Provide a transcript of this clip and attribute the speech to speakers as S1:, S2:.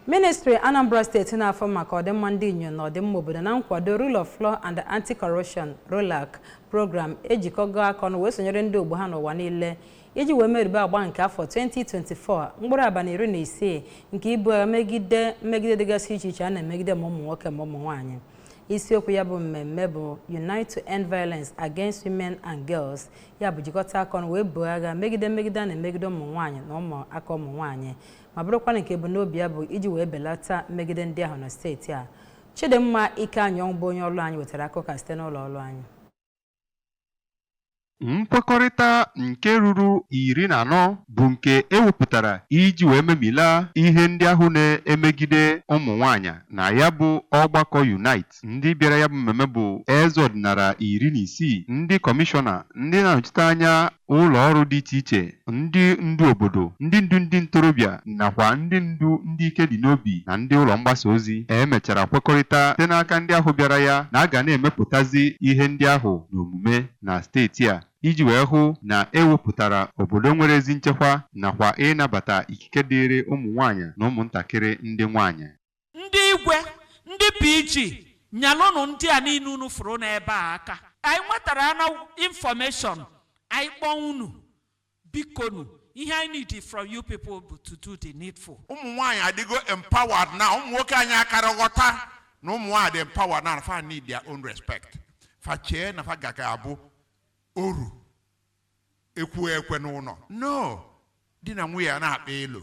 S1: ministri anambra steeti na-afụ maka ọdịmma ndị inyom na ọdịmma obodo na nkwado rule of law and anti-corruption rolac program ejikọgo aka ọnụ wee sonyere ndị ogbo ha n'ụwa niile iji wee merube agba nke afọ 2024 mkpụrụ abalị iri na isii nke ibu agha megide mmegide dịgasị iche iche a na-emegide ma ụmụ nwoke ma ụmụ nwaanyị isiokwu ya bụ mmemme bụ unite to end violence against women and girls ya bụ jikọta aka ọnụ wee buo agha megide mmegide a na-emegide ụmụ nwaanyị na ụmụaka ụmụ nwaanyị ma bụrụkwana nke ebumnobi ya bụ iji wee belata mmegide ndị ahụ na steeti a Chidimma Ikeanyionwu bụ onye ọrụ anyị wetara akụkọ site n'ụlọ ọrụ anyị
S2: nkwekọrịta nke ruru iri na anọ bụ nke e wepụtara iji wee memila ihe ndị ahụ na-emegide ụmụ nwaanyị na ya bụ ọgbakọ unite ndị bịara ya bụ mmemme bụ eze ọdịnala iri na isii ndị kọmishọna ndị na-anọchite anya Ụlọ ọrụ dị iche iche, ndị ndu obodo, ndị ndu ndị ntorobịa, nakwa ndị ndu ndị ike dị n'obi na ndị ụlọ mgbasa ozi e mechara kwekọrịta site n'aka ndị ahụ bịara ya na a ga na-emepụtazi ihe ndị ahụ n'omume na steeti a iji wee hụ na e wepụtara obodo nwere ezi nchekwa nakwa ịnabata ikike dịịrị ụmụ nwaanyị na ụmụntakịrị ndị nwaanyị. Ndị
S3: Igwe, ndị PG, nyelụnụ ndị a niile unu fụrụ n'ebe a aka. Anyị nwetara any information, anyị kpọọ unu. Bikonu, ihe anyị need from you people bụ to do the needful. ụmụ nwaanyị
S4: adịgo empowered na ụmụ nwoke anyị akarọ aghọta na ụmụ nwaanyị dị empowered na fa need their own respect fa chee na fa ga-aka abụ oru e kwuo e kwe n'ụnọ no di na nwunye a na-akpa elo